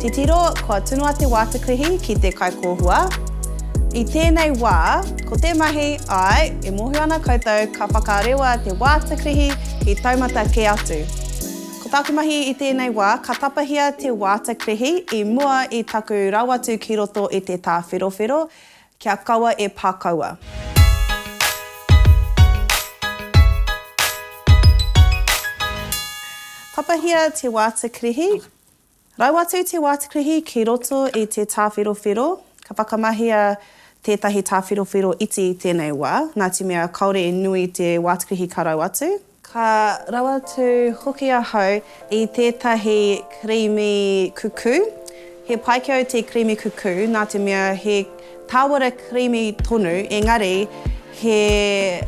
Titiro, kua tunu a Te Wātekihi ki te kaikōhua. I tēnei wā, ko te mahi, āe, e mōhio ana koutou ka whakarewa Te Wātekihi ki taumata kē atu. Ko taku mahi i tēnei wā, ka tapahia Te Wātekihi i mua i taku rawatu ki roto i te tāwherowhero, kia kaua e pā kaua. Tapahia Te Wātekihi Rau atu te wātekihi ki roto i te tāwherowhero, ka whakamahia tētahi tāwherowhero iti i tēnei wā, nā te mea kāore i nui te wātekihi ka rau atu. Ka rau atu hoki ahau i tētahi kirīmi kukū. He pai ki au te kirīmi kukū, nā te mea he. Tāwara creamy tonu, engari he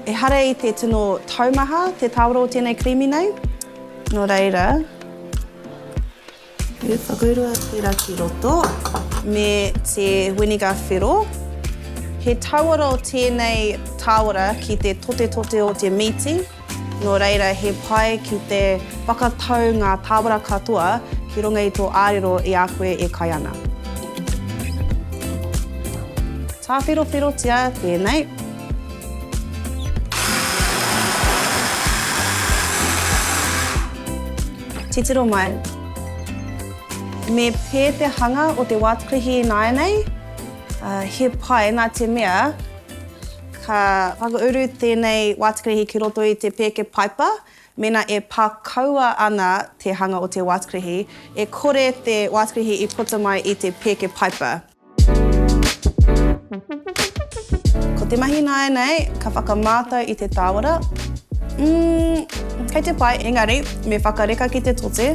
ehara i te tino taumaha te tāwara o tēnei creamy nei. Nō reira, e whakaurua tērā ki roto me te winiga whero. He tauara o tēnei tāwara ki te totetote o te mīti. Nō reira, he pai ki te whakatau ngā tāwara katoa ki runga i tō ārero i a koe e kai ana. Tāwherowherotia tēnei. Titiro mai. Me pē te hanga o te wātakahi ināianei? He pai, nā te mea. Ka whakauru tēnei wātekerehi ki roto i te pēke paipa mēnā e pā kaua ana te hanga o te wātekerehi, e kore te wātekerehi i puta mai i te pēke paipa. Ko te mahi nāianei ka whakamātau i te tāwara, umm, kei te pai, engari me whakareka ki te tote.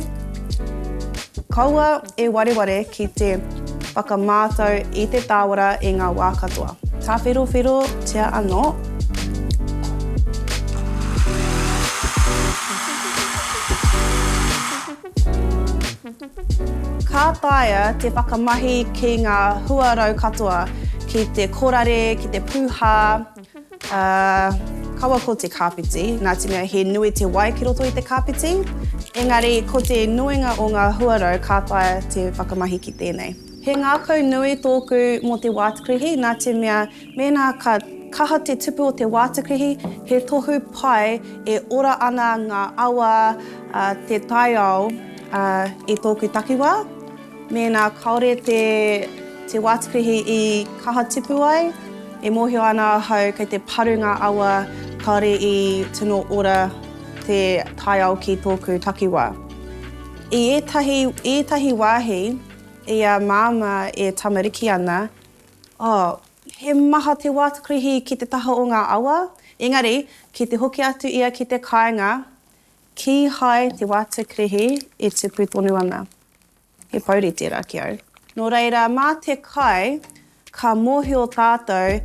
Kaua e wareware ki te whakamātau i te tāwara i ngā wā katoa. Tāwherowherotia anō. Ka taea te whakamahi ki ngā huarau katoa, ki te korare, ki te pūhā. Kawa ko te kāpeti, nā te mea he nui te wai ki roto i te kāpeti, engari ko te nuinga o ngā huarau ka taea te whakamahi ki tēnei. He ngākau nui tōku mō te wātakrihi nā te mea mēnā ka kaha te tupu o te wātakrihi, he tohu pai e ora ana ngā awa, te taiao i tōku takiwā. Mēnā kāore te wātepehi i kaha tipu ai, e mōhio ana ahau kei te paru ngā awa kāore i tino ora te taiao ki tōku takiwā. I ētahi wāhi, i a Māmā e tamariki ana, oh, he maha te wātepehi ki te taha o ngā awa, engari ki te hoki atu ia ki te kāinga, kīhai te wātepehi e tipu tonu ana. He pouri tērā ki au. Nō reira, mā te kai ka mōhio tātou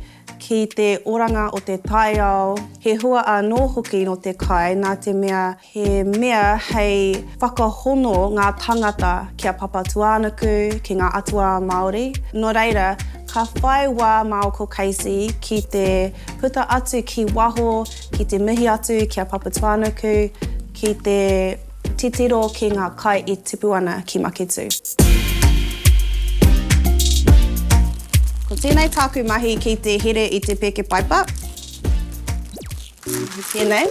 ki te oranga o te taiao, he hua anō hoki nō te kai nā te mea he mea hei whakahono ngā tāngata ki a Papatūānuku, ki ngā atua Māori. Nō reira, ka whai wā māu ko Casey ki te puta atu ki waho, ki te mihi atu ki a Papatūānuku, ki te. Titiro ki nga kai i tipu ana ki Maketu. Ko tenei taku mahi ki te here i te peke paipa. Tenei.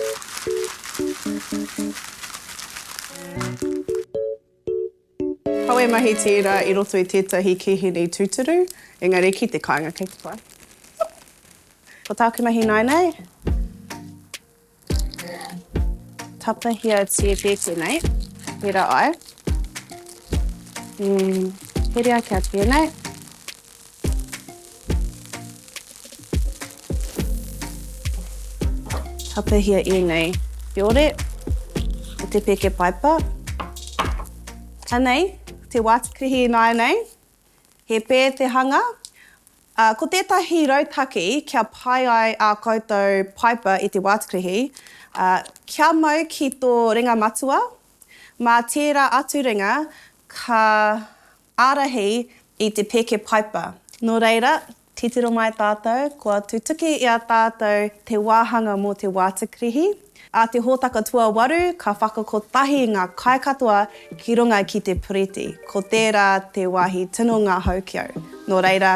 Kawe mahi tērā i roto i tētahi kīhini tūturu, engari ki te kāinga kei te whai. Ko tāku mahi ināinei, tapahia tētē tēnei, pērā ai, herea kia tēnei. Tapahia ēnei whiore o te peke paipa. Anei te wātepehi ināianei. He pē te hanga, ā, ko tētahi rautaki kia pai ai ā koutou paipa i te wātepehi, ā, kia mau ki tō ringa matua, mā tērā atu ringa ka Ārahi i te pēke paipa. Nō reira, titiro mai tātou, kua tutuki i a tātou te wāhanga mō te wātakirihi. A te hōtaka tuawaru, ka whakakotahi ngā kai katoa ki runga ki te puriti. Ko tērā te wāhi tino ngahau ki au. Nō reira.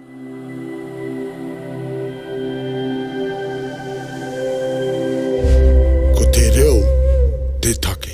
Ko te reo te take.